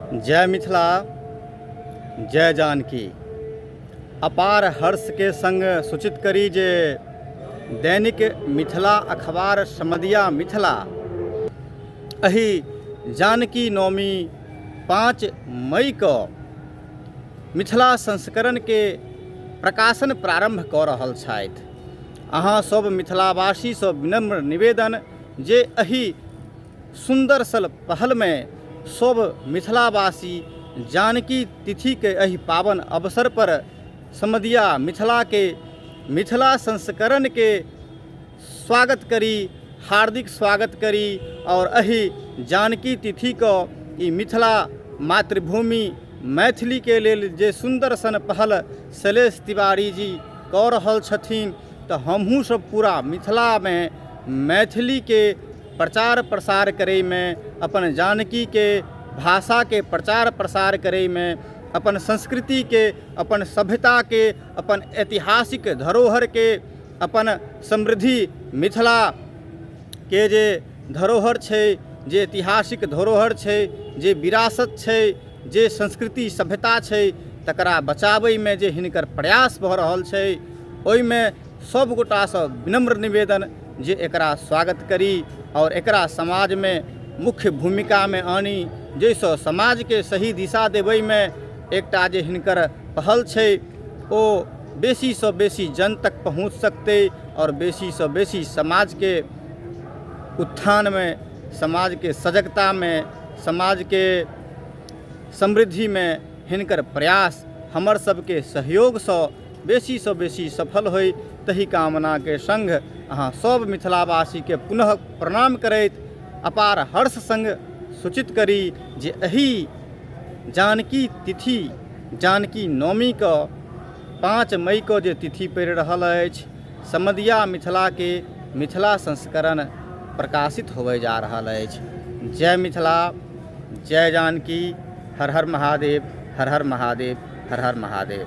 जय मिथिला जय जानकी अपार हर्षके सङ्ग सूचित करी जे दैनिक मिथिला अखबार समदिया मिथिला एहि जानकी नवमी पाँच मईके मिथिला संस्करणके प्रकाशन प्रारम्भ कऽ रहल छथि अहाँ सब मिथिलावासीसँ विनम्र निवेदन जे एहि सुन्दर सल पहलमे सभ मिथिलावासी जानकी तिथिके एहि पावन अवसर पर समदिया मिथिलाके मिथिला संस्करणके स्वागत करी हार्दिक स्वागत करी आओर एहि जानकी तिथिके ई मिथिला मातृभूमि मैथिलीके लेल जे सुन्दर सन पहल शैलेश तिवारी जी कऽ रहल छथिन तऽ हमहुँ सभ पूरा मिथिलामे मैथिलीके प्रचार प्रसार करैमे अपन जानकीके भाषाके प्रचार प्रसार करैमे अपन संस्कृतिके अपन सभ्यताके अपन ऐतिहासिक धरोहरके अपन समृद्धि मिथिलाके जे धरोहर छै जे ऐतिहासिक धरोहर छै जे विरासत छै जे संस्कृति सभ्यता छै तकरा बचाबैमे जे हिनकर प्रयास भऽ रहल छै ओहिमे सभ गोटासँ विनम्र निवेदन जे एकरा स्वागत करी आओर एकरा समाजमे मुख्य भूमिकामे आनी जाहिसँ समाजके सही दिशा देबैमे एकटा जे हिनकर पहल छै ओ बेसीसँ बेसी जन तक पहुँच सकतै आओर बेसीसँ बेसी समाजके उत्थानमे समाजके सजगतामे समाजके समृद्धिमे हिनकर प्रयास हमर सभके सहयोगसँ बेसीसँ बेसी सफल होइ तहि कामनाके सङ्ग अहाँ सभ मिथिलावासीके पुनः प्रणाम करैत अपार हर्ष सङ्ग सूचित करी जे एहि जानकी तिथि जानकी नवमीके पाँच मईके जे तिथि पड़ि रहल अछि समदिया मिथिलाके मिथिला संस्करण प्रकाशित होबै जा रहल अछि जय मिथिला जय जानकी हर हर महादेव हर हर महादेव हर हर महादेव